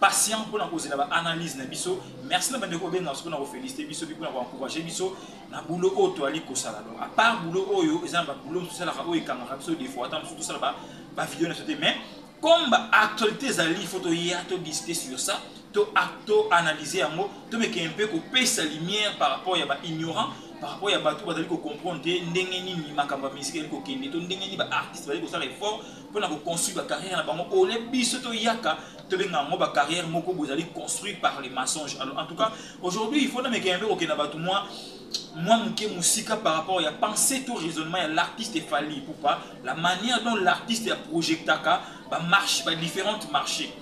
patient pona kozela ba analyse na biso merci na bandeko obenga soki na kofelicite biso mpe pona koencourage biso na boulot oyo toali kosala donc apart boulot oyo eza na baboulot mosusu tosalaka oyo ekangaka biso defo ata mosusu tosala bavideo na biso te mais comme baactualité ezali fo toya todiscute sur ça toanalyse yango tomeke mpe kopesa lumière par rapport ya baignorant par rapport ya bato bazali kocomprendre te ndenge nini makambo ya misiki ezali kokende to ndenge nini baartiste bazali kosala effort mpo na koconstruire bacarrière na bango ole biso toyaka tobenga yango bacarrière moko bozali construire par les mensonges alors en tout cas aujourd'hui il faut namekaya mpe kokenda bato mwa mwa moke mosika par rapport ya pensée to raisonnement ya l'artiste efali poupa la manière dont l'artiste ya projectaka bamarche badifférentes marché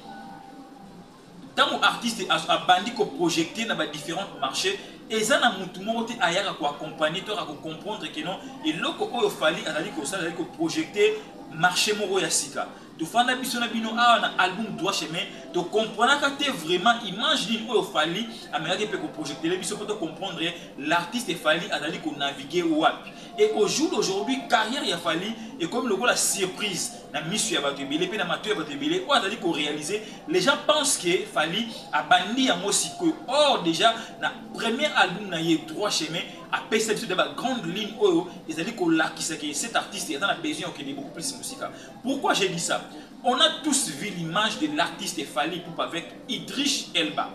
Tango artiste a abandi ko projecter na ba differentes marches, eza na mutu moko te ayaka ko accompagner to ayaka ko comprendre que non eloko oyo Fally azali kosala ezali ko projecter marche moko ya sika. Tofanda biso na bino awa na album Droit chemin, to comprenaka te vraiment image nini oyo Fally amekaki mpe ko projectele biso mpo to comprendre l'artiste Fally azali ko naviguer wapi. Et au jour d'aujourd'hui, carrière ya Fally est comme le la surprise. Na misu ya batu ebele pe na matu ya batu ebele. Oyo azali ko réaliser, les gens pensent que Fally abandi yango sikoyo. Or déjà na premier album na ye Droit Chemin, apesa biso de ba grande ligne oyo ezali ko lakisa que cet artiste est a besoin de beaucoup plus musika. Pourquoi j'ai dit ça? On a tous vu l'image de l'artiste Fally Poupa avec Idriss Elba.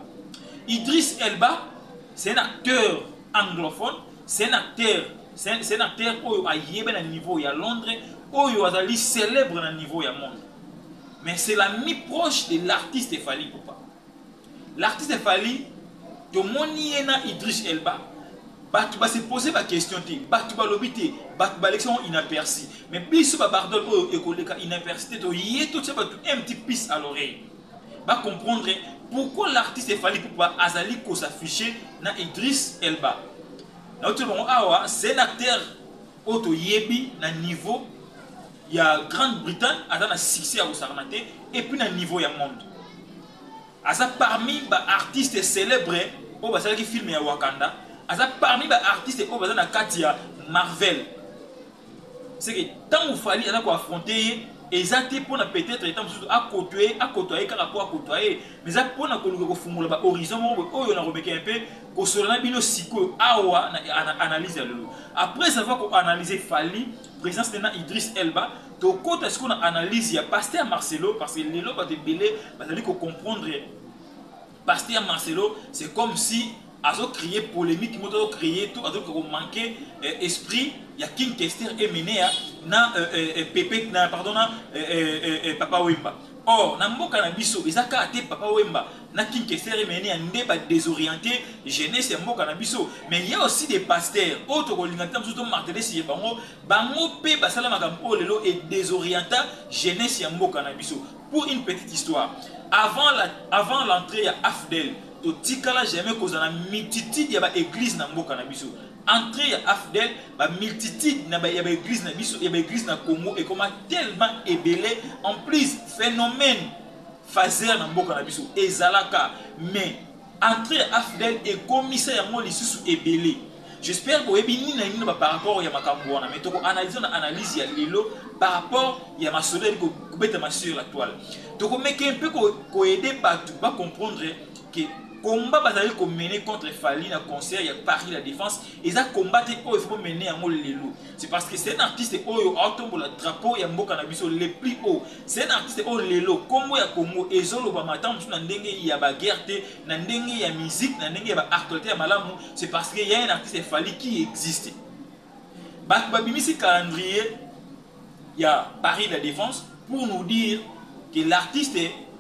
Idriss Elba, c'est un acteur Anglophone, c'est un acteur, c'est un acteur oyo ayebe na niveau ya Londres, oyo azali celebre na niveau ya monde. Mais c'est l'ami proche de l'artiste Fally Ipupa. L'artiste Fally, tomoni ye na Idris Elba, bato base pose baquestion te bato balobi te bato balekisa yango inaperci mais biso babardol oyo ekoleka inaperci te toye totya bato un petit piece à l'oreille ba comprendre pourquoi l'artiste Fally Ipupa azali ko s'afficher na Idriss Elba. Na otie bango awa, c'est un acteur oyo toyebi na niveau ya Grande-Bretagne, aza na succès ya kosakana te, et puis na niveau ya monde. Aza parmi ba artistes célèbres oyo basalaki film ya Wakanda, aza parmi ba artistes oyo baza na kati ya Marvel. c'est que ntango fali aza koaffronte ye eza te mpo na peut-être etat mosusu akotwe akotwa ye kaka mpo akotwa ye mais eza mpo na koluka kofungola bahorizon moko boye oyo nakomeka mpe kosola na bino sikoyo awa na analyse ya lelo après avoir koanalyse fali présence na idris elba tokota sikoyo na analyse ya paster marcelo parce que lelo bato ebele bazali kocomprendre Pasteur Marcelo c'est comme si azo cree polemique moto azo cree to azo ko manquer euh, esprit ya King Kester et Menea na euh, euh, euh Pepe na pardon na euh, euh, euh, euh Papa Wemba. Or na mboka na biso eza kaka te Papa Wemba na King Kester et Menea nde ba désorienter jeunesse ya mboka na biso mais il y a aussi des pasteurs oyo tokolinga te mosusu to marteler sur bango bango pe basala makambo oyo lelo et désorienta jeunesse ya mboka na biso Pour une petite histoire, avant la avant l'entree ya Afdl totikala jamais kozala na multitude ya ba eglises na mboka na biso. Entree ya Afdl ba multitude na ba ya ba eglises na biso ya ba eglises na Congo ekoma tellement ebele en plus phenomène phaser na mboka na biso ezalaka mais Entre ya Afdl ekomisa yango lisusu ebele. J'espère boyebi nini na nini na ba par rapport ya makambu wana mais toko analyser na analyse ya lelo par rapport ya masolo ezali kobetama sur la toile. Toko meke un peu ko aider batu ba comprendre que combat bazali ko mener contre Fally na concert ya Paris la Defense eza combat te oyo il faut bo mener yango lelo. C'est parce que c'est un artiste oyo aotombola drapeau ya mboka na biso le plus haut. C'est un artiste oyo lelo kombo ya Congo ezo lobama ata mosusu na ndenge ya ba guerre te, na ndenge ya musique, na ndenge ya ba actualités ya malamu, c'est parce que il y a un artiste Fally qui existe. Bato babimisi calendrier ya Paris la Défense pour nous dire que l'artiste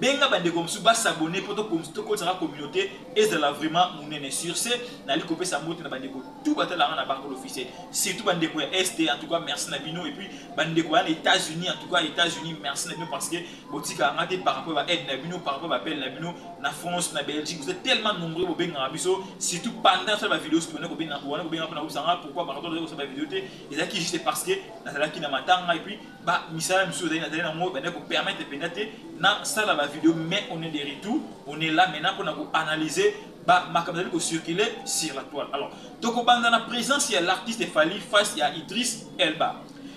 benga ba ndeko mosusu ba s'abonner po tokotisa ka communauté ezala vraiment munene sur ce nali kopesa mbote na ba ndeko tout batala nga na barco l'officiel surtout ba ndeko ya est en tout cas merci na bino et puis ba ndeko ya na États-Unis en tout cas États-Unis merci na bino parce que botika nga te par rapport ba aide na bino par rapport ba appel na bino na France na Belgique vous êtes tellement nombreux bobenga biso surtout pendant ça ba vidéos tout na kobenga wana kobenga pona kobisa nga pourquoi par rapport na kosala ba vidéos te ezaki juste parce que nazalaki na matanga et puis ba misala misusu ezali nazali nango ebandaki kopermettre mpenza te nasala bavideo mais on est de retour on est là maintenant mpona koanalyse makambo ezali kocircule sur la toile alors tokobanda na présence ya l'artiste fali face ya idris elba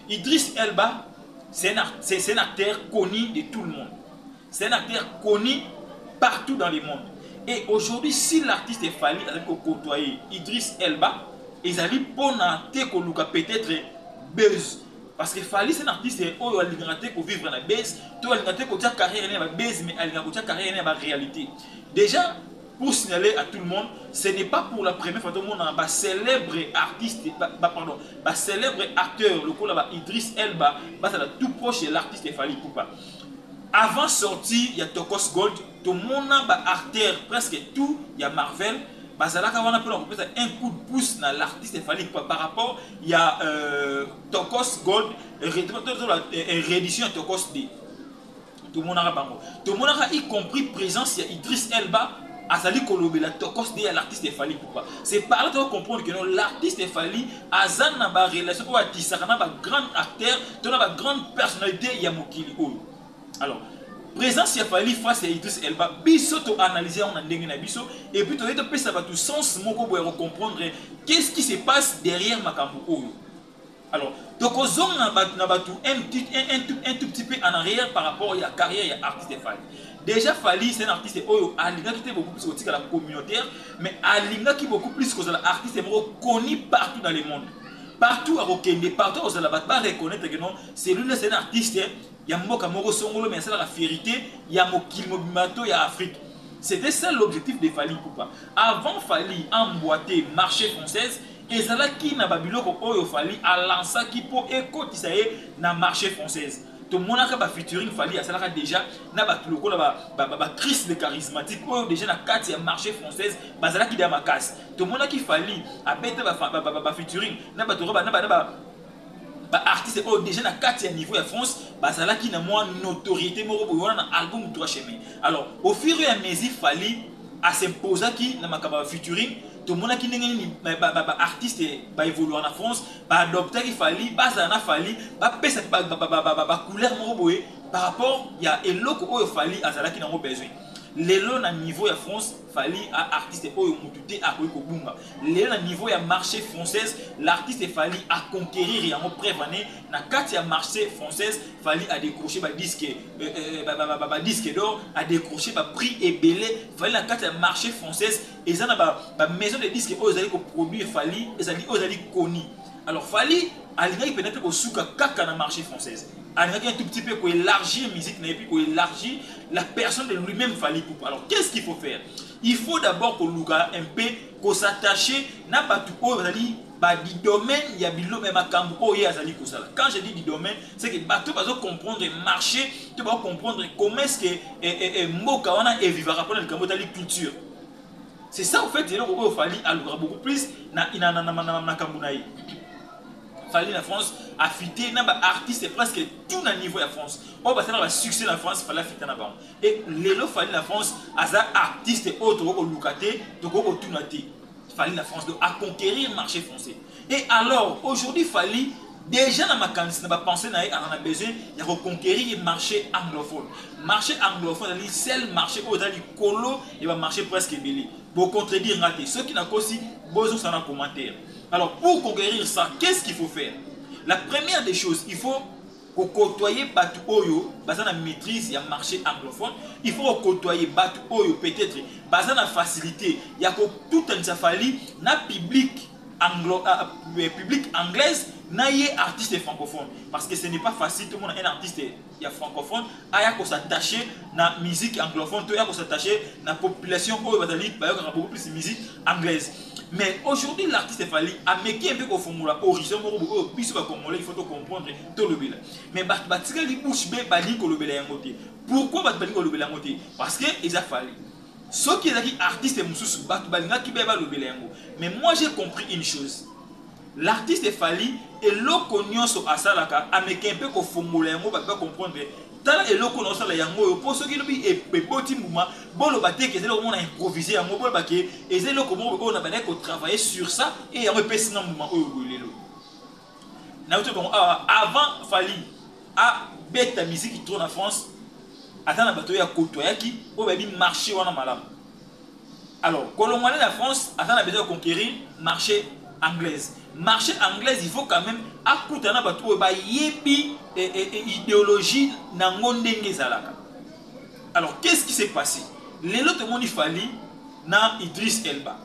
idris elba c'est un, un acteur connu de tout le monde c'est un acteur connu partout dans le monde et aujourd'hui si l'artiste fali azali kokotoye idris elba ezali mpona te koluka peut-être buzz Parce que Fally c'est un artiste oyo alingaka te ko vivre na buzz, to alingaka te kotia carrière na ba buzz mais alingaka kotia carrière na ba réalité. Déjà pour signaler à tout le monde, ce n'est pas pour la première fois on a ba célèbre artiste ba, ba pardon, ba célèbre acteur lokola ba Idriss Elba, ba tout proche de l'artiste Fally Ipupa. Avant sortie ya Tokos Gold, Tomona ba acteurs presque tout ya Marvel bazalaka wana pona kopesa un coup de pouce na l'artiste Fally Ipupa par rapport ya euh, Tokos Gold réédition ya Tokos D. Tomonaka bango. Tomonaka y compris présence ya Idris Elba azali kolobela tokos de ya l'artiste efali pourquoi c'est par là toko comprendre que non l'artiste efali aza na barelation oyo atisaka na bagrande acteur to na bagrande personnalité ya mokili oyo alors présence ya Fally face ya Idriss Elba biso to analyser yango na ndenge na biso et puis toyei topesa bato sens moko boye ya kocomprendre qu'est-ce qui se passe derrière makambo oyo alors tokozonga na bato na bato un, un, un, tout, un tout petit peu en arrière par rapport ya carrière ya artiste Fally déjà Fally c'est un artiste oyo alingaki te beaucoup plus kotikala communautaire mais alingaki beaucoup plus kozala artiste moko connu partout dans le monde partout akokende partout akozala bato bareconnaitre que non celui-là c'est un artiste ya mboka moko songolo mais asalaka fierite ya mokili mobimba to ya afrique c'était ça l'objectif de fali poupa avant fali emboite marché française ezalaki na babiloko oyo fali alansaki mpo ekotisa ye na marché française tomonaka bafeaturing fali asalaka déjà na bato lokola bacrise ba, ba, ba de charismatique oyo déjà na kati ya marché française bazalaki deya makasi tomonaki fali abeta bafeaturing ba, ba, ba, na bato na ba, ba, ba, ba, ba artistes oyo déjà na kati ya niveau ya France bazalaki na mwa notoriété moko boye wana na album droit chemin alors au fur et à mesure Fally a s'imposaki na makambo ya featuring tomonaki ndenge nini baartiste ba, ba, ba, ba evoluaka na france baadoptaki fali bazala na fali bapesa bacouleur moko boye par rapport ya eloko oyo fali azalaki nango besoin lelo na niveau ya france fali a artiste oyo motu te akoki kobunga lelo na niveau ya marché française l'artiste fali a conquérir yango preuve ane na kati ya marché française fali a décroché ba disque euh, euh, ba, ba, ba, ba disque d'or a décroché ba prix ebele fali na kati ya marché française eza na ba, ba maison de disque oyo ezali koproduire fali ezali oyo ezali koni alors fali alingaki mpenza mpe kosuka kaka na marché française alingaki un tout petit peu koélargir musique na ye mpe koélargir la personne de lui-même fali poupa alors qu'est ce qu'il faut faire Il faut d'abord koluka un peu ko s'attacher na batu oyo bazali ba du domaine ya biloko ya makambo oyo ye azali kosala. Quand je dis du domaine, c'est que bato bazo comprendre marche to bazo comprendre comment est-ce que eh, eh, eh, mboka wana evivaka mpona likambo etali culture. C'est ça au fait eloko oyo Fally alukaka beaucoup plus na na na na na makambo na ye. Fally na France afite na ba artistes presque tout na niveau ya France. Oyo basala ba succès na France, Fally afita na bango. Et lelo Fally na France aza artiste oyo tokoki koluka te, tokoki kotuna te. Fally na France donc a conquérir marché français. Et alors aujourd'hui Fally déjà na makanisi na bapense na ye aza na besoin ya koconquérir marché anglophone marché anglophone ezali sel marché oyo eza likolo ya bamarché presque ebele bocontredire nga te soki nakosi bozongisa na commentaire alors pour conquérir ça qu'est ce qu'il faut faire la première des choses il faut ko cotoyer batu oyo baza na maitrise ya marche anglophone il faut ko cotoyer batu oyo peut-etre baza na facilite ya ko tutanisa Fally na public anglo uh, uh, public anglaise na ye artiste francophone parce que ce n'est pas facile tomona un artiste ya francophone aya ko s'attacher na musique anglophone to ya ko s'attacher na population oyo bazali bayokaka beaucoup plus musique anglaise mais aujourd'hui l'artiste fali ameki un peu kofongola horizon moko boye oyo biso bacongolais il faut tocomprendre tolobela mais bato batikali bouche be balingi kolobela yango te pourquoi bato balingi kolobela yango te parce que eza fali soki ezalaki artiste mosusu bato balingaki be balobela yango mais moi j'ai compris une chose L'artiste Fally eloko nionso asalaka amekee mpe kofongola yango bato ba comprendre tala eloko oyo nazosala yango oyo mpo soki elobi eboti mbuma boloba te ke eza eloko moko na improvise yango boloba ke eza eloko moko oyo nabandaki ko travailler sur ça et yango epesi nga mbuma oyo boye lelo nauti bango awa avant Fally abeta miziki trop na France ata na bato oyo akotoyaki oyo bayebi marche wana malamu Alors, Kolongwane na France, aza na besoin de conquérir marché anglaise. Marché anglaise, il faut quand même akuta na batu oyo bayebi e, e, e, idéologie na ngo ndenge ezalaka. Alors, qu'est-ce qui s'est passé? Lelo tomoni Fally na Idriss Elba.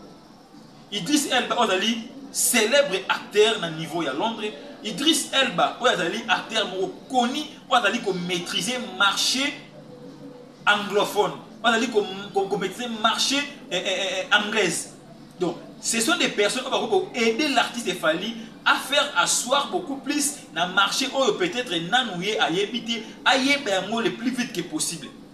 Idris Elba oyo azali célèbre acteur na niveau ya Londres. Idris Elba oyo azali acteur moko koni oyo azali ko maîtriser marché anglophone. Oyo azali ko, ko, ko maîtriser marché eh, eh, eh, eh anglaise. Donc, ce sont des personnes oyo bakoki ko aider l'artiste Fally à faire asseoir beaucoup plus na marché oyo peut-être nanu ye ayebi te ayeba yango le plus vite que possible.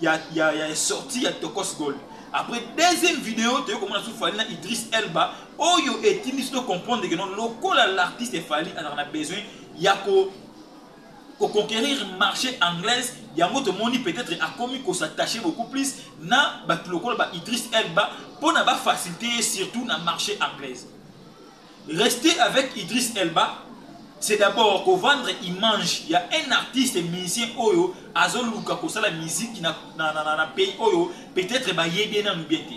ya, ya, ya sortie ya tokos gold après deuxième vidéo toyei komona su fali na idris elba oyo etindi biso tocomprendre ke non lokola l'artiste fali azalaka na besoin ya ko koconquérir marché anglaise yango tomoni peut-être akomi kosattache beaucoup plus na bato lokola ba idris elba mpo na bafacilité ye surtout na marché anglaise Rester avec Idriss Elba c'est d'abord ko vendre image ya un artiste musicien oyo azo luka ko sala musique na, na, na, na pays oyo peut-etre ba yebi ye nanu bien te.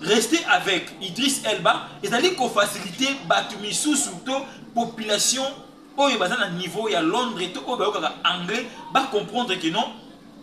Rester avec Idriss Elba ezali ko faciliter batu misusu to population oyo baza na niveau ya Londres to oyo bayokaka anglais ba comprendre que non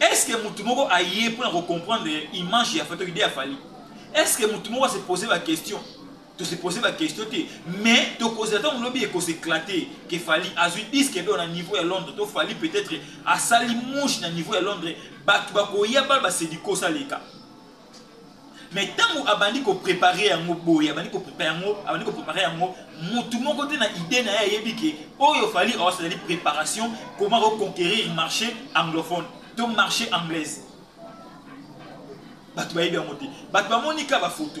est ce que mutu moko aye mpona ko comprendre image ya fatoki de ya fali est ce que mutu moko ase pose ba question tose pose ba question te mais tokozela ntango lobi ekose éclate ke fali azwi disque do na niveau ya londres to fali peut-être asali mouche na niveau ya londres bato bakoya bal basediko saleka mais ntango abandi koprepare yango boye abandi koprepare yango abandi koprepare yango motu moko te na idee na ye ayebi ke oyo fali os ezali préparation comment reconquérir marché anglophone to marché anglaise bato bayebi yango te bato bamoni ka bafoto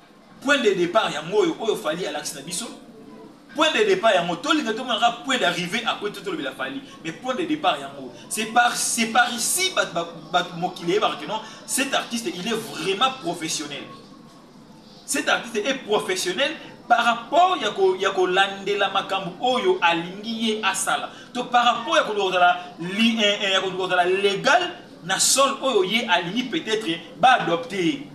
Point de depart yango oyo oyo Fally alakisi na biso. Point de depart yango tolinga tomona ka point d'arrivée après tout tolobela Fally. Mais point de depart yango c'est par c'est par ici bat bat mokili yeba que non cet artiste il est vraiment professionnel. Cet artiste est professionnel par rapport ya ko ya ko landela makambo oyo alingi ye asala. To par rapport ya ko lozala li eh, eh, ya ko lozala legal na sol oyo ye alingi peut-être ba adopter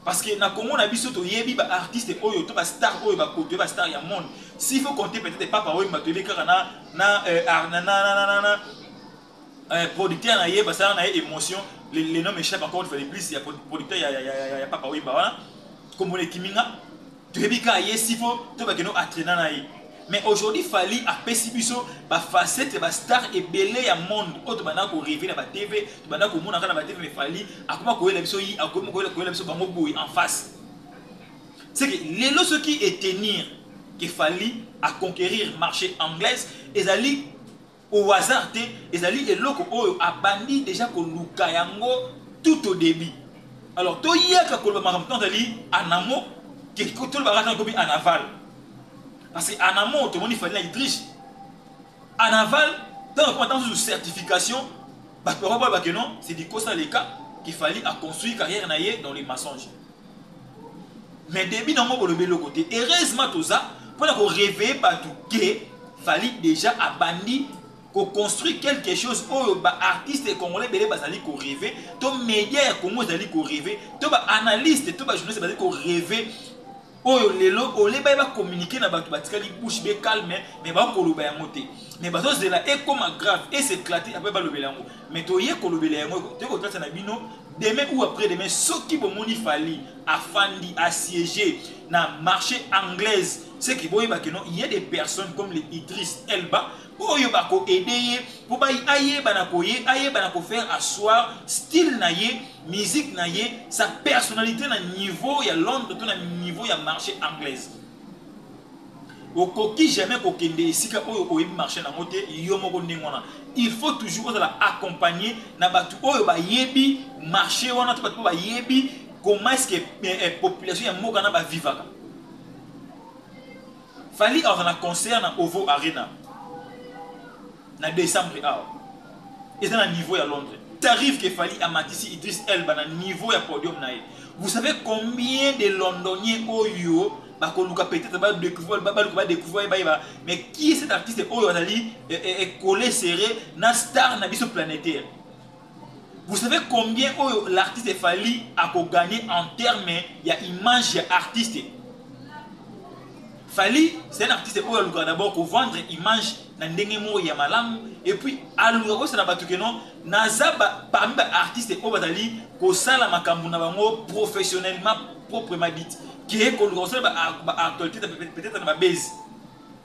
Parce que na Congo na biso to yebi ba artistes oyo to ba stars oyo ba koto ba stars ya monde. S'il faut compter peut-être Papa Wemba to yebi kaka na na euh, na na na na na euh, producteur na ye basala na ye émotion le, le nom échappe encore une fois de plus ya producteur ya, ya, ya, ya, ya Papa Wemba wana. Kombo na ekiminga. toyebi ka ye sifo to bakende oatrena na ye mais aujourd'hui fali apesi biso bafacete bastar ebele ya monde oyo tobanda koreve na batv tobanda komonaka na batv me fali akoma koyela biso yi akomi koyela biso bango boye en face seke lelo soki etenir ke fali aconquerir marché anglaise ezali au hasard te ezali eloko oyo abandi deja koluka yango tout au début alors toyaka koloba makambo ntango ezali anamo tolobaka ntango ekomi anaval parce que anamo tomoni fali na itriche anaval ntango ekoma ntango susu certification bato bakoboya bake non c'est dikosa leka kifali aconstruire carrière na ye dans les mensonges mais debut nango bolobi eloko te heureusement toza mpona ko réveiller bato ke fali déjà abandi koconstruire quelque chose oyo baartiste congolais ebele bazali koreve to media ya congo ezali koreve to baanalyste to bajournaliste bazali koreve oyo lelo ole baye bacommunike na bato batikali bouche be calme me bakoloba yango te me bazozela ekoma grave eseclate apres balobela yango mais toye kolobela yango toye kotalisa na bino demain ou après demain soki bomoni fali afandi assiégé na marché anglaise ce qui boyeba que non il y a des personnes comme les idris elba oyo bakoede ye mpo ayeba na koye ayeba na kofaire asseoir style na ye musique na ye sa personnalité na niveau ya londres to na niveau ya marché anglaise okoki jamais kokende esika oyo oyebi marché nango te yo moko ndenge wana il faut toujours ozala accompagné na bato oyo bayebi marché wana to bato oyo bayebi comment est-ce que eh, eh, population ya mboka na bavivaka fali aza na concert na ovo arena na decembre awa eza na niveau ya londres t'arrive que fali amatisi idris elba na niveau ya podium na ye vous savez combien de londonien oyo bakoluka peut-être badécouvrir baluka badécouvrir bayeba mais qui est cet artiste oyo azali ekole eh, eh, eh, serré na star na biso planétaire Vous savez combien oyo l'artiste Fally a ko gagner en terme ya image ya artiste Fally c'est un artiste oyo aluka d'abord ko vendre image na ndenge moko ya malamu et puis aluka ko sana batu que non naza ba parmi ba artistes oyo bazali ko sala makambo na bango professionnellement proprement dit que ko luka ko sala ba, ba actualités peut-être na ba base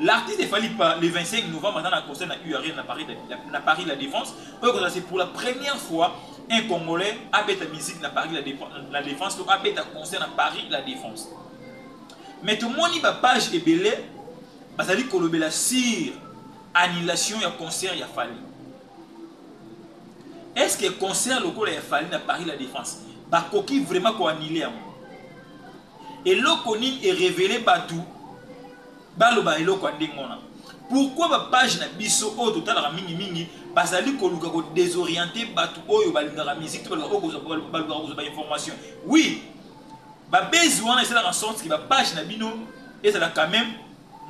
L'artiste de Fally Ipupa le 25 novembre aza na concert na U Arena na Paris, na Paris la Défense oyo ekozala c'est pour la première fois un Congolais abeta musique na Paris la, la Défense to abeta concert na Paris la Défense. Mais tomoni ba page ebele bazali kolobela sur annulation ya concert ya Fally. Est-ce que concert lokola ya Fally na Paris la Défense bakoki vraiment ko annuler yango? eloko nini erévele bato baloba eloko ya ndenge wana pourquoi bapage na biso oyo totalaka mingimingi bazali koluka kodesoriente bato oyo balingaka musique to balukaka kozwa bainformation oui babezi wana esalaka sorte ke bapage na bino ezala quand même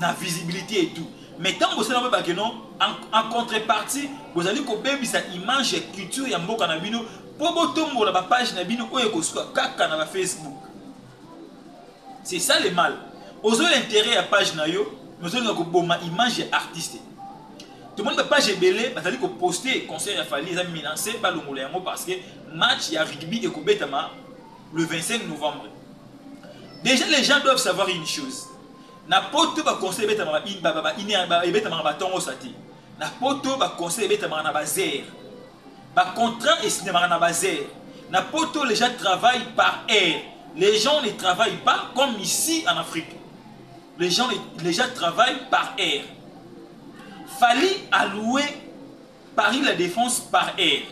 na visibilité et tout mais ntango bosala boyebake non en contrepartie bozali kobebisa image ya culture ya mboka na bino mpo botombola bapage na bino oyo ekosuka kaka na bafacebook C'est ça le mal. Ozo interet ya page na yo, mais ozo linga ko boma image ya artiste. Tomoni ba page ebele bazali ko poster concert ya Fally eza menacé ba longola yango parce que match ya rugby ekobetama le 25 novembre. Déjà les gens doivent savoir une chose. Na poto ba conseil ebetama ba ba ba ebetama ba tongo sati. Na poto ba conseil ebetama na ba zère. Ba contrats esignamaka na bas heures. Na poto les gens travaillent par heure. Les gens ne travaillent pas comme ici en Afrique. Les gens, les gens travaillent par heure. Fally a loué Paris la défense par heure.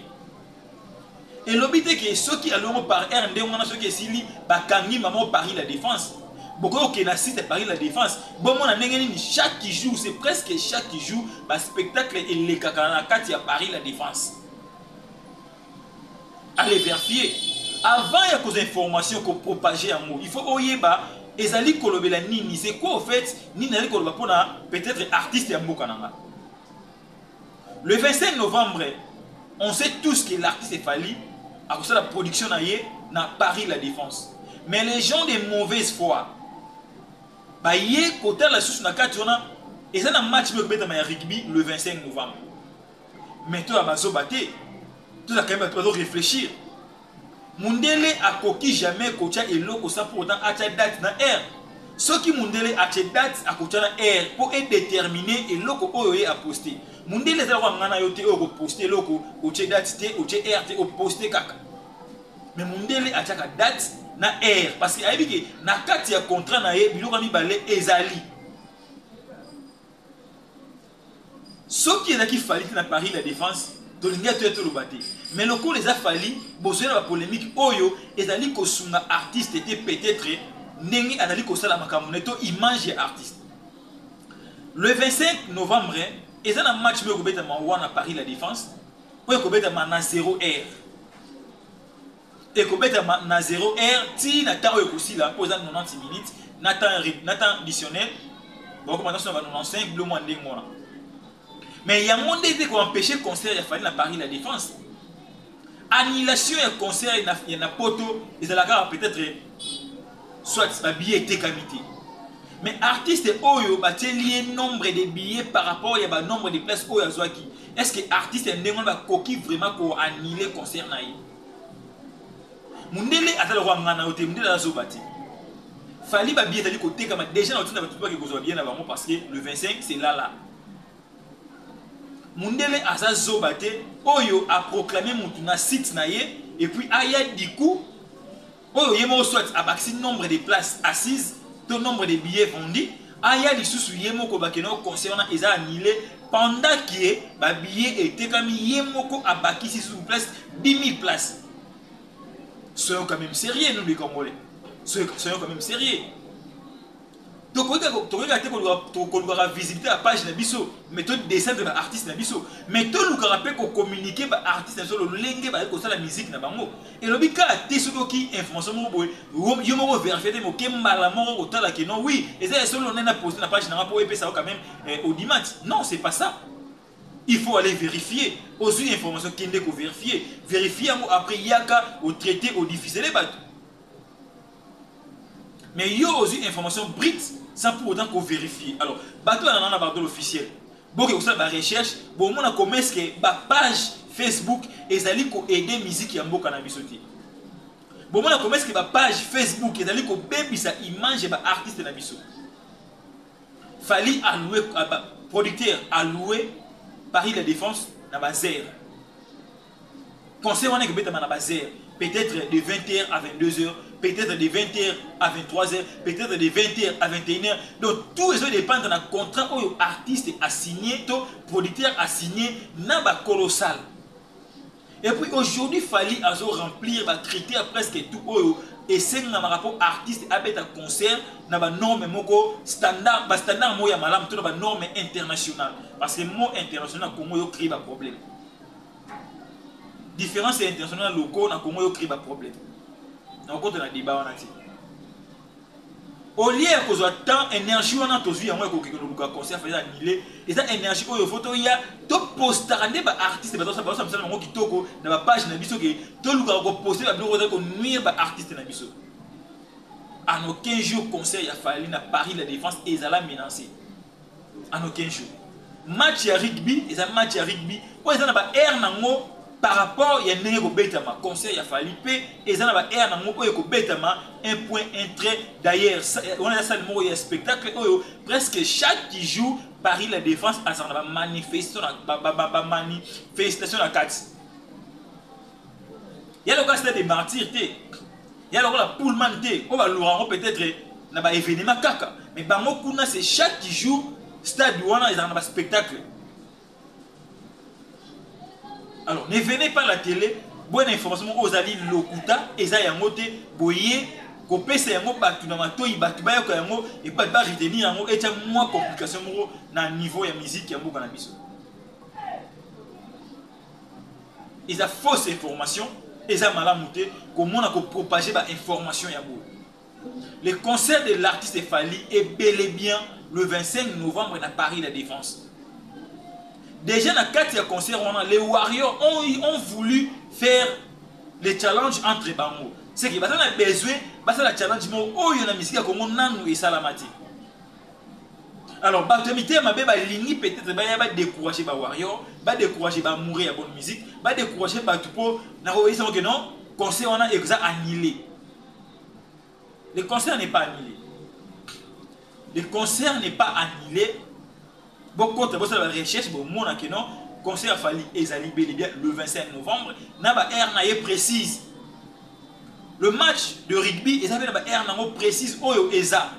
elobi te ke soki alongo par heure nde wana soki esili bakangi mama paris la défense bokoki kokende na site ya paris la défense bomona ndenge nini chaque jour c'est presque chaque jour baspectacle elekaka na kati ya paris la défense areverfie avant ya kozwa information kopropage yango il faut oyeba ezali kolobela nini c'est quoi au fait nini ezali koloba mpona peut-être artiste ya mboka na ngai le 25 novembre on sait tous que l'artiste fali akosala production na ye na paris la défense mais les gens de mauvaise foi baye kotala lisusu na kati wana eza na match moko ebetama ya rugby le 25 novembre mais toya bazoba te tozalaka ye bato bazo réfléchir Mundele akoki jamais kotia eloko sans pour autant atia date na heure. Soki mundele atie date akotia na heure po e determiner eloko oyo ye a poster. Mundele eza lokola nga na yo te oyo oko poster eloko otie date te otie heure te o poster kaka. Mais mundele atiaka date na heure parce que ayebi ke na kati ya contrat na ye biloko mibale ezali. Soki ezalaki Fally te na Paris la defense tolingi atoya toloba te mais lokola eza Fally bozoya na ba polemique oyo ezali kosunga artiste te peut etre ndenge azali kosala makambo na ye to image ya artiste. Le 25 novembre eza na match moko ekobetama wana Paris la defense oyo ekobetama na zero heure. ekobetama na 0 heure tii na temps oyo ekosila mpo eza 90 minutes na temps na temps additionnel bakoma na 95 bilo mwa ndenge wana mais yango nde ete koempêche concert ya fali na paris la défense annulation ya concert na, ya na poto ezalaka peut-être soit babillet etekami te mais artiste oyo batieli ye nombre de billets par rapport ya banombre de place oyo azwaki est ce que artiste ya ndenge wana bakoki vraiment koannule concert na ye mundele aza lokola ngai na yo te mundele aza zoba te fali babi ezali kotekama deja na otinda bato bake kozwa babiye na bango parce que le 25 c'est lala mundele aza zoba te oyo aproclame motu na site na ye epuis aya diku oyo ye moko soit abakisi nombre de places assises to nombre de billets vendus aya lisusu ye moko bakende o conseil wana eza annule pendant que ba billets etekami ye moko abakisi lisusu place 10000 places soyons quand même sérieux nous les congolais soyons quand même sérieux tokoki kaka tokoki kaka te koluka to- kolukaka visibilité ya page na biso mais to descendre ba artiste na biso mais tolukaka mpe kocommunique ba artiste na biso lolenge bazali kosala musique na bango elobi kaka te soki oki information moko boye yo- yo moko verifie te moke mbala moko kotala ke non oui eza ya solo nde na poste na page na nga mpo epesa yo quand même eh, odimati non c'est pas ça il faut aller vérifier ozwi information kende kovérifie vérifie yango après yaka otraite odifisele bato Mais yo ozui information brute sans pour autant ko verifier. Alors, bato ya nana bato l'officiel. Boke kosala ba recherche, bomona comment est-ce que ba page Facebook ezali ko aider musique ya mboka na biso te. Bomona comment est-ce que ba page Facebook ezali ko bebisa image ya ba artistes na biso. Fally a loué producteur a loué Paris la défense na ba zère. Concert wana ekobetama na bas heures, peut-être de 20h à 22h, peut-être de 20h à 23h, peut-être de 20h à 21h. Donc tout ezo dépendre na contrat oyo artiste a signé to producteur a signé na ba colossal. Et puis aujourd'hui Fally azo remplir ba critères presque tout oyo esengamaka mpo artiste abeta concert na banorme moko standard bastandard moko ya malamu to na banorme international parce que mo international na congo yo cree baproblème Difference ya international na locaux na Congo yo crée ba problème. Na okota na débat wana ti. Au lieu ya kozwa temps énergie wana tozwi yango ya kokende luka concert faza annulé eza énergie oyo faut toya to postaka nde ba artistes bazo sa bazo misala bango kitoko na ba page na biso ke to luka ko poster ba biloko ko nuire ba artistes na biso. En aucun jour concert ya Fally na Paris la défense ezala menacée. en aucun jour match ya rugby eza match ya rugby oyo eza na ba aire nango par rapport ya ndenge ekobetama concert ya fali mpe eza na ba aire nango oyo ekobetama un point un trait d'ailleurs wana eza sale moko ya spectacle oyo presque chaque jour paris la défense azala na bamanifestation na kati ya lokola stade de martyr te ya lokola pullman te oyo balora yango peut-être na ba événement kaka mais bango kuna c'est chaque jour stade wana ezalaka na ba spectacle alors ne venez pas la télé bonne information moko ozali lokuta eza yango te boye kopesa yango bato na matoi bato bayoka yango epai ba retenir yango etya mwa complication moko na niveau ya miziki ya mboka na biso eza fausse information eza malamu te komona kopropage bainformation ya boye le concert de l'artiste fali est bel et bien le 25 novembre na paris la défense déjà na kati ya concert wana les warriors ont, ont voulu faire le challenge entre bango seke baza na besoin basala challenge moko oyo na misiki ya kongo nanu esalama te alors bato ya mitema mabe balingi peut-être baya badécourage bawarrior badécourage baamoureux ya bonne musique badécourage bato mpo nakoyebisa oke non conseil wana eza annulé le concert n'est pas annulé le concert n'est pas annulé bokota bosala ba recherche bomona que non conseil ya fali ezali bel et bien le 25 novembre na ba heure na ye précise le match de rugby eza mpe na ba heure nango précise oyo eza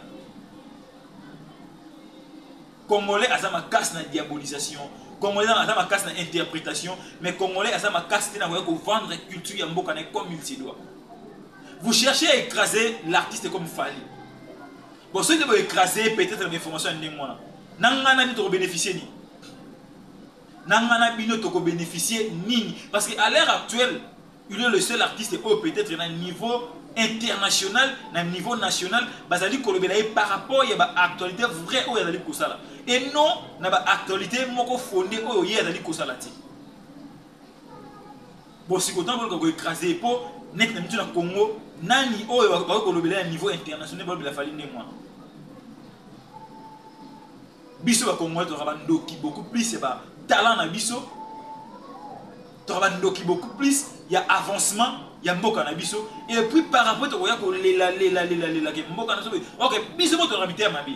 congolais aza makasi na diabolisation congolais aza makasi na interprétation mais congolais aza makasi te na koya kovendre culture ya mboka na comme il se doit vous cherchez à écraser l'artiste comme fali Bon, soki te bo écraser peut-être na information ya ndenge wana. Na nga na bino toko bénéficier nini? Na nga na bino toko bénéficier nini? Parce que à l'heure actuelle, il est le seul artiste oyo peut-être na niveau international na niveau national bazali kolobela ye par rapport ya ba actualité vrai oyo azali kosala et non na ba actualité moko fonde oyo ye azali kosala te Bosiko tango boluka ko ecraser ye po neti na bitu na Congo nani oyo bakoki kolobela ye na niveau international balobela Fally ndenge wana? Biso ba congolais tozalaka ba ndoki beaucoup plus ya ba talent na biso tozalaka ba ndoki beaucoup plus ya avancement ya mboka na biso et puis par rapport tokoya kolela lela lela lela ke mboka na biso ok biso moko tozalaka mitema mabe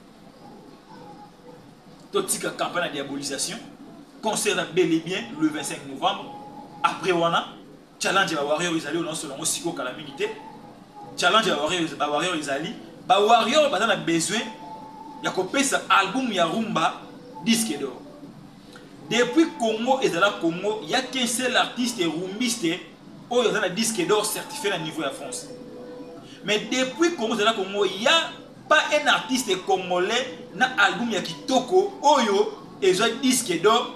totika campagne ya diabolisation concert ya bel et bien le 25 novembre après wana challenge ya bawarrior ezali oyo naosolo yango sikoyo kala mingi te challenge ya bawarrior ezali bawarrior baza na besoin ya kopesa album ya rumba disque d'or depuis congo ezala congo ya qu'un seul artiste rumbiste oyo aza na disque d'or certifié na niveau ya france mais depuis congo ezala congo ya pas un artiste congolais na album ya kitoko oyo ezwa disque d'or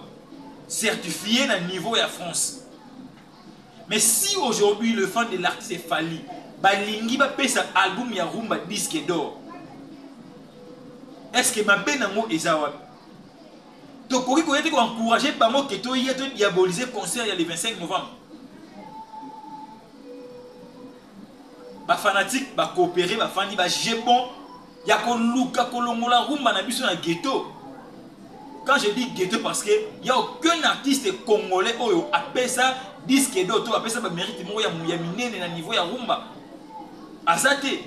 certifié na niveau ya france mais si aujourd'hui le fan de l'artiste efali balingi bapesa album ya rumba disque d'or est ce que mabe nango eza wapi tokoki koya te koencourage bango ke toya todiabolise concert ya le 25 novembre Ba fanatiques ba cooperer ba fandi ba juger bon ya ko luka ko longola rumba na biso na ghetto. Quand je dis ghetto parce que il y a aucun artiste congolais oyo apesa disque d'or to apesa ba mérite moko ya minene na niveau ya rumba. Azate.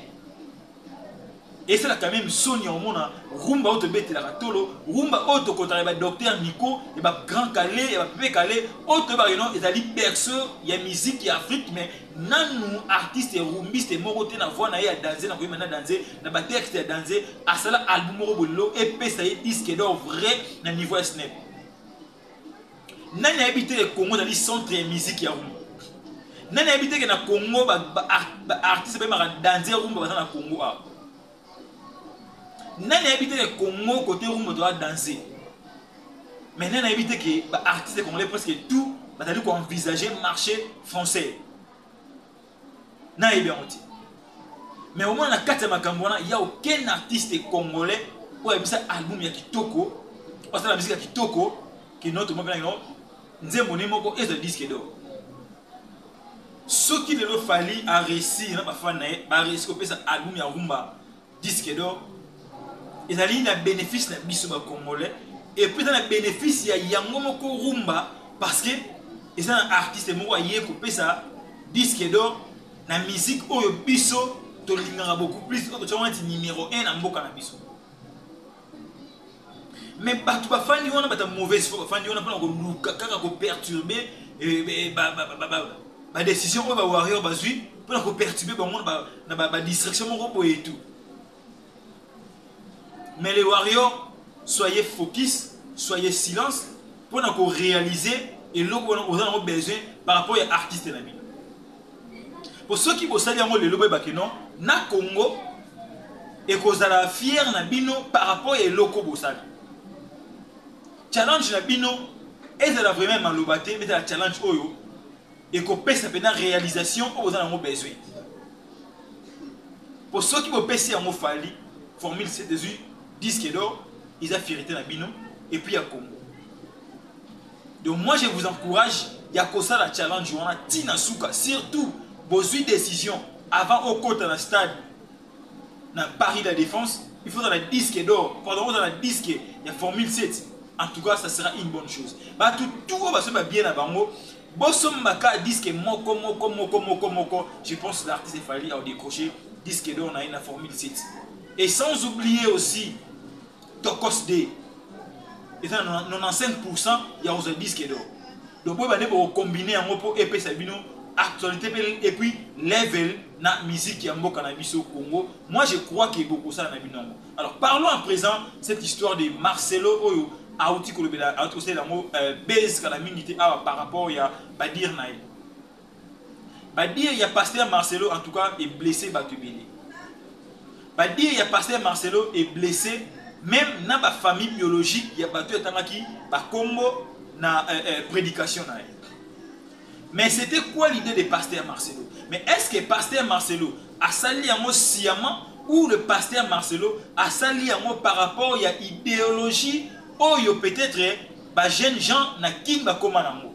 esalaka meme soni ya komona rumba oyo tobetelaka tolo rumba oyo tokotaka ya badocteur miko ya bagrand kale ya bapepe kale oyo toyebaka ino ezali berceau ya miziki ya afrique mais nanu artiste rumbiste moko te na voi na ye ya danze na koyeba na danze na batexte ya danze asala album moko bolelo epesa ye diske dor vrai na niveau ya snep nani ayebi te ke congo ezali centre ya miziki ya rumba nani ayebi te ke na congo baartiste bayemaka danze ya rumba baza na congo awa nani ayebi te ke congo kote rumba toza danze mais nani ayebi te ke baartiste congolais presque tout bazali koenvisage marché français nayebi yango te mais omona na kati ya makambo wana ya aucun artiste congolais oyo ayebisa album ya kitoko basala miziki ya kitoko kino tomopenakino nzembo ni moko ezwa diske dor soki lelo fali aresi na bafani na ye baresi kopesa album ya rumba disque d'or ezali na bénéfice na biso ba congolais et puis eza na bénéfice ya yango moko rumba parce que eza na artiste moko aye kopesa disque d'or na musique oyo biso tolingaka beaucoup plus oyo totyaka neti numéro 1 na mboka na biso mais bato bafandi wana bata mauvaise foi bafandi wana mpona koluka kaka koperturbe eh, eh, badécision oyo bawarrior bazwi mpona koperturbe bango na badistraction moko boye etu mais les warrior soyez focus soyez silence mpona korealize eloko wana oza nango besoin par rapport ya artiste na bino po soki bosali yango lelo boyeba ke non na congo ekozala fiere na bino par rapport ya eloko bosali challenge na bino ezala vraiment maloba te ezala challenge oyo ekopesa mpena réalisation oyo boza nango besoin po soki bopesi yango fali formule c ezwi disque d'or eza fierité na bino epuis ya congo Donc moi je vous encourage ya kosala challenge wana ti na suka surtout bozui decision avant okota na stade na Paris de la Défense il faut la disque d'or pardon on la disque ya formule 7 en tout cas ça sera une bonne chose ba tout tout ba se bien na bango bosombaka disque moko moko moko moko moko je pense l'artiste fali a décroché disque d'or na ye na formule 7 et sans oublier aussi tokos de eza na 95% ya kozwa disque d'or donc boyeba nde bokokombine yango mpo epesa bino actualité mpe et puis level na musique ya mboka na biso congo moi je crois ke bokosala na bino yango alors parlons à présent cette histoire de marcelo oyo auti kolobela auti kosalela yango euh, base kala mingi te awa par rapport ya badire na ye Ba dire ya pasteur Marcelo en tout cas e blesser batu ebele. Ba dire ya pasteur Marcelo e blesser meme na ba famille biologique ya batu atangaki ba kombo na euh, euh, predication na ye. Mais c'était quoi l'idée de pasteur Marcelo Mais est-ce que pasteur Marcelo a sali yango sciemment ou le pasteur Marcelo a sali yango par rapport ya idéologie oyo peut-être ba jeunes gens na kin bakoma nango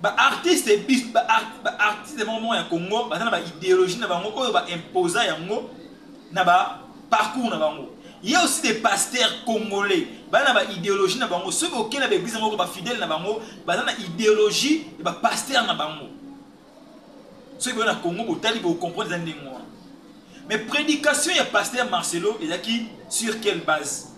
Ba artistes bis ba artistes moko moko ya Congo baza na ba ideologie na bango oyo ba imposa yango na ba parcours na bango. Il y a aussi des pasteurs congolais baza na ba ideologie na bango soki okei na ba eglise moko ba fidèles na bango baza na ideologie ya ba pasteurs na bango. Soki boye na Congo botali bo comprendre eza ndenge wana. Mais prédication ya pasteur Marcelo ezalaki sur quelle base?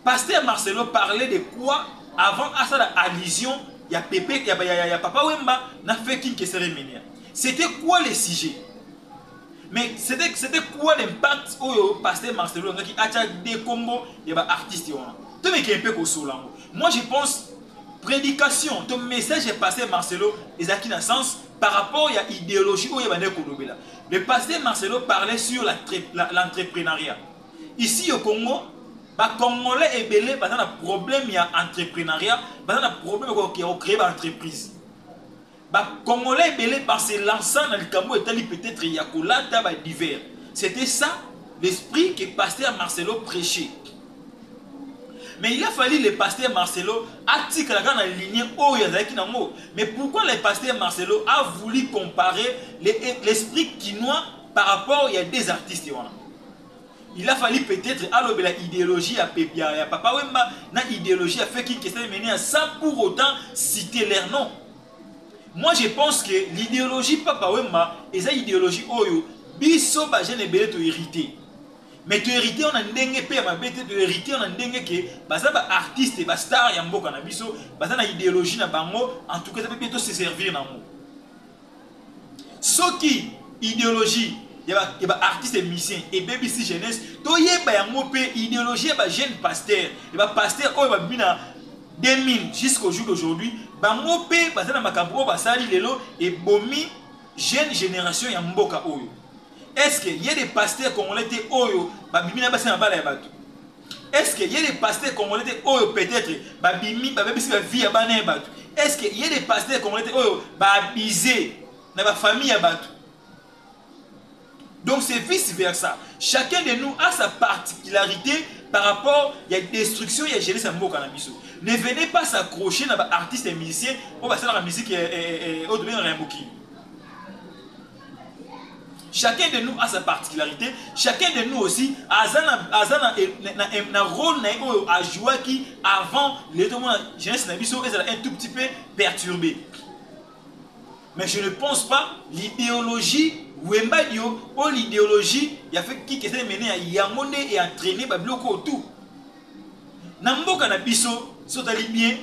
Pasteur Marcelo parler de quoi avant asala allusion ya pepe ya, ya, ya, ya papa Wemba na feu king kesere menia. C'était quoi le sujet? Mais c'était c'était quoi l'impact oyo pasteur Marcelo ngaki acha de kombo ya ba artistes wana. To meke mpe ko solango. Moi je pense prédication to message ya pasteur Marcelo ezaki na sens par rapport à l'idéologie où il y a le pasteur Marcelo parlait sur l'entrepreneuriat. ici au congo bacongolais ebele baza na problème ya entreprenariat baza na problème ya kocree baentreprise bacongolais ebele base lança na likambo etali peut-être ya kolata badivers c'était ça l'esprit que pasteur marcelo prêchait mais il a fallu le pasteur marcelo atikala kaka na ligne oyo azalaki nango mais pourquoi le pasteur marcelo a voulu comparer l'esprit le, kinois par rapport ya deux artistes wana il a fallu peut-être alobela idéologie ya, ya, ya papa wemba na idéologie ya feki kesene menea sans pour autant citer leur nom moi je pense que l'idéologie papa wemba eza idéologie oyo biso bajeune ebele tohérite mais tohérite wana ndenge mpe ya mabe te tohérite wana ndenge ke baza baartiste bastar ya mboka na biso baza na idéologie na bango en tout cas eza mpe mpe toseservir na yango soki ideologie ya ba artiste et musicien ebebisi jeunesse toyeba yango mpe ideologie ya ba jeune pasteur ya ba pasteur oyo babimi na 2000 jusqu'au jour d'aujourd'hui bango mpe baza na makambo oyo basali lelo ebomi jeune génération ya mboka oyo est ce que ye de pasteur congolais te oyo babimi na basi na bala ya bato Est-ce que ye les pasteurs congolais te oyo peut-être babimi babebisi ba vie ya bana ya bato? Est-ce que ye les pasteurs congolais te oyo ba abuser na ba famille ya bato? Donc c'est vice versa. Chacun de nous a sa particularité par rapport ya destruction ya jeunesse ya mboka na biso. Ne venez pas s'accrocher na ba artistes et musiciens oyo basalaka musique oyo tobengaka ya mokili. chacun de nous a sa particularité chacun de nous aussi aza na, aza na, eh, na, na, eh, na rôle na ye oyo ajouaki avant lelo tomona jeunesse na biso ezala un tout petit peu perturbé mais je ne pense pas l'idéologie wembadio oyo l'idéologie ya fe kikese mene ya yango nde eentraîne babiloko oyo tout na mboka na biso sotali bien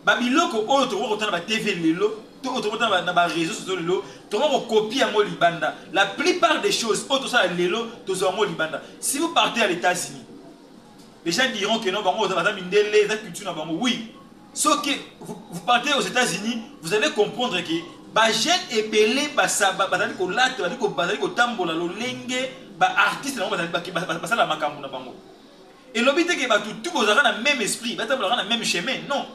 ba biloko oyo tokoki kotala na ba TV lelo to oyo tokoki kotala na ba réseaux sociaux lelo tokoki kokopie yango libanda la plupart des choses oyo tosala lelo tozwa yango libanda si vous partez à l'États-Unis les gens diront que non bango baza mindele eza culture na bango oui sauf que vous, vous partez aux États-Unis vous allez comprendre que ba jeunes ebele basaba bazali kolata bazali kotambola lolenge ba artistes na bango bazali basala makambo na bango elobi te ke bato tu bozalaka na meme esprit batambolaka na meme chemin non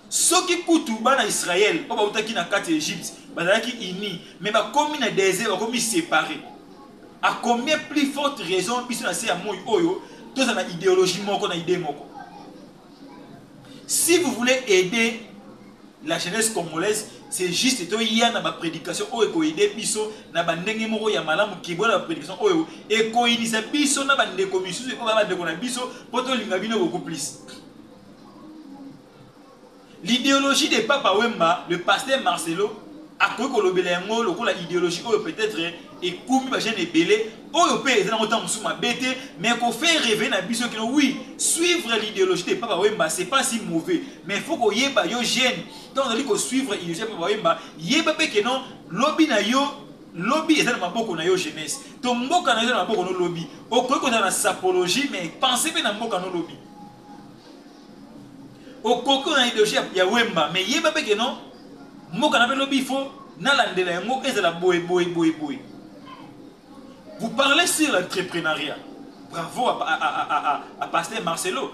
soki kutu bana israel oyo bautaki na kati ya egypte bazalaki uni me bakomi na desert bakomi separe a combien plus forte raison biso na se ya moi oyo tozala na ideologie moko na idee moko Si vous voulez aider la jeunesse congolaise c'est juste to ya na ba prédication oyo ko aider biso na ba ndenge moko ya malamu ki bola ba prédication oyo e ko inisa biso na ba ndeko misusu ko ba ndeko na biso poto linga bino beaucoup plus l'idéologie de papa wemba le pasteur Marcelo a ko ko lobela yango lokola idéologie oyo peut-être ekomi ba jeunes ebele oyo mpe eza nango ntango mosusu mabe te mais kofaire reve na biso kino oui suivre l'idéologie de papa wemba c'est pas si mauvais mais faut koyeba yo jeune ntango ozali kosuivre idéologie ya papa wemba yeba mpe keno lobi na yo lobi eza na maboko na yo jeunesse to mboka na yo eza na maboko no lobi okoki kozala na sapologie mais pense mpe na mboka no lobi okoki oyo na ideologie ya, ya wemba mais yeba mpe keno mboka na mpe lobi il faut nalandela yango ezala boye boye boye boye vous parlez sur l'entrepreneuriat bravo à, à, à, à, à, à pasteur marcelo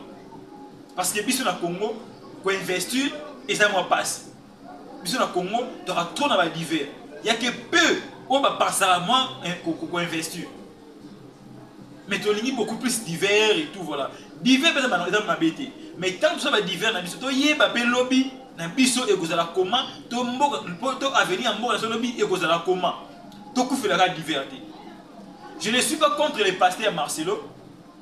parce que biso na congo koinvestir eza mwa mpasi biso na congo toka trop na badiver yake peu oyo bapasaka mwa koinvestir mais tolingi beaucoup plus divers et tout voilà divers mpe eza mabe te mais ntango toza ba divers na biso toyeba mpe lobi na biso ekozala koma to mboka mpo to avenir ya mboka na biso lobi ekozala koma tokufelaka divers te je ne suis pas contre le pasteur marcelo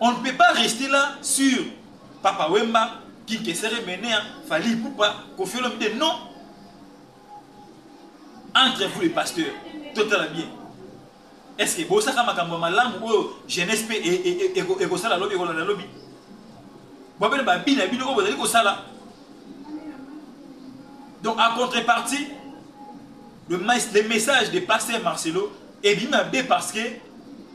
On ne peut pas rester là sur Papa Wemba, King Kessere Menea, Fali Poupa, Kofi Olomide. Non. Entre vous les pasteurs, total bien. Est-ce que bosaka makambo ya malamu oyo jeunesse mpe ekosala lobi ekolanda lobi babele babina bino oyo bozali kosala donc en contrepartie le, le message de pasteur marcelo ebimi mabe parce que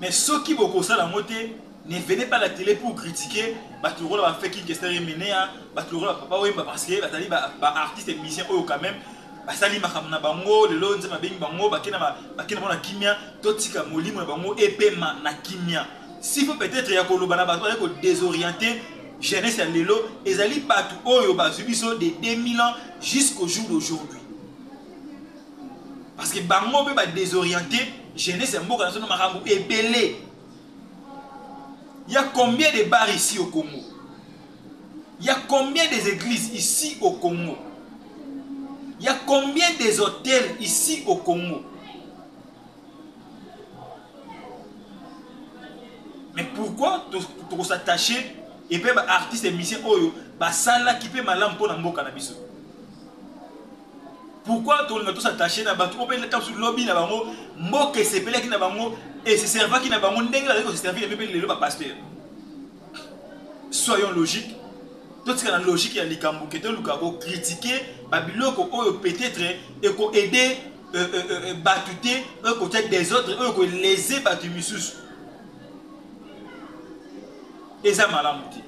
mais soki bokosala yango te ne venez pas la télé pour critiquer bato lokola ba fake kester emenea bato lokola papa wemba parce que bazali baartiste ba musicien oyo quand même basali makambo na bango lelo nzambe abengi bango bakenda bango na kimia totika molimo na bango epema na kimia si faut peut-être ya koloba na bato bazali kodesoriente jeunesse ya lelo ezali bato oyo bazwi biso de 2000 ans jusqu'au jour d'aujourd'hui parce que bango mpe ba desoriente jeunesse ya mboka na biso na makambo ebele ya combien de bar ici au congo ya combien des églises ici au congo ya combien des hôtels ici au congo mais pourquoi tokosatache epe baartiste ya misien oyo basalaki mpe malamu mpo na mboka na biso Pourquoi tolinga tosattache na bato oyo mpe ntango lobi na bango mboka esepelaki na bango eseservaki na bango ndenge bazali koseservir mpe lelo bapasteur soyons logique totika na logique ya likambo ke toluka kokritike babiloko oyo peut-être ekoaide euh, euh, euh, bato te oyo ekotya desordre oyo ekolese bato misusu eza malamu te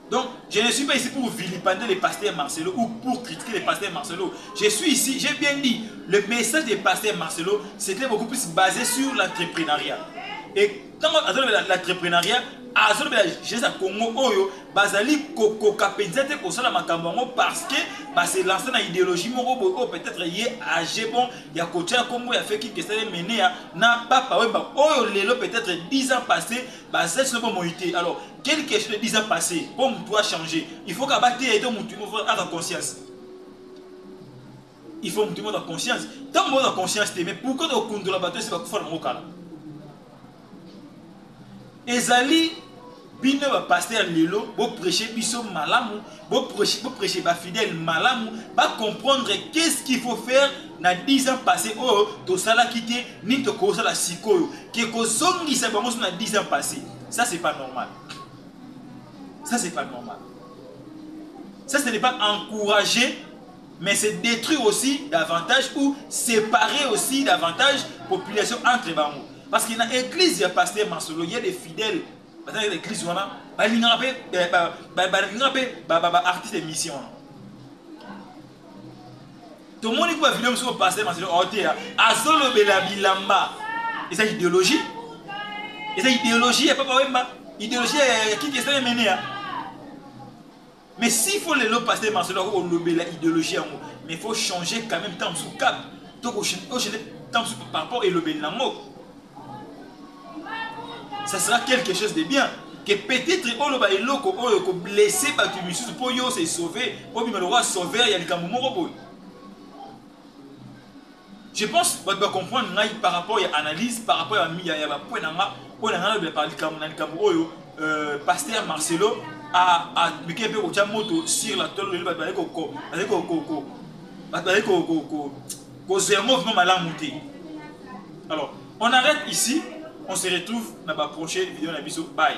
Donc, je ne suis pas ici pour vilipender le pasteur Marcelo ou pour critiquer le pasteur Marcelo. Je suis ici, j'ai bien dit, le message du pasteur Marcelo, c'était beaucoup plus basé sur l'entrepreneuriat. Et quand on a l'entrepreneuriat, azolobela jeunesse ya congo oyo bazali kokoka mpenza te kosala makambo yango parce que base lance na idéologie moko boye oyo peut-être ye age bon ya kotya nkombo ya feki kesale menea na papa wemba oyo lelo peut-être 10 ans passé basali sino bomoi te alors Quelle question de 10 ans passé pour mutu a changer Il faut qu'à battre et mutu a la conscience. Il faut mutu a la conscience. Tant que la conscience mais pourquoi donc kundu la bateau c'est pas kufa ngo kala. Ezali bino ba pasteur lelo bo prêcher biso malamu Bo prêche, bo prêche ba fidèles malamu, ba comprendre qu'est-ce qu'il faut faire na 10 ans passé oyo oh, tosalaki te nini tokosala sikoyo ke kozongisa bango so na 10 ans passé ça c'est pas normal ça c'est pas normal ça ce n'est pas encourager mais c'est détruire aussi davantage ou séparer aussi davantage population entre bango parce que na église ya pasteur masolo il y a des fidèles bazalaki na eglise wana balingaka mpe eh, balingaka mpe baartiste émission wana tomoni kuba video mosusu paster maselo aoteya oh, azolobela bilamba eza idéologie eza idéologie ya papa wemba idéologie ya kiki esana emeneya Mais s'il faut lelo pasteur Marcelo ako lobela idéologie yango, mais faut changer quand même tant sous cap. Donc au changer tant sous par rapport elobeli nango. Ça sera quelque chose de bien que peut-être oloba eloko oyo ko blesser batu misusu po yo se sauver, obima le roi sauveur ya likambo moko boye. Je pense batu ba comprendre ngai par rapport ya analyse, par rapport ya ya ba points na nga oyo na nga lobela par likambo na likambo oyo euh, pasteur Marcelo a a mike pe kotia moto sur la tolo lelo batu bazali ko ko bazali ko ko ko batu bazali ko ko ko ko zermo vraiment malamu te. Alors, on arrête ici, on se retrouve na ba prochaine vidéo na biso. Bye.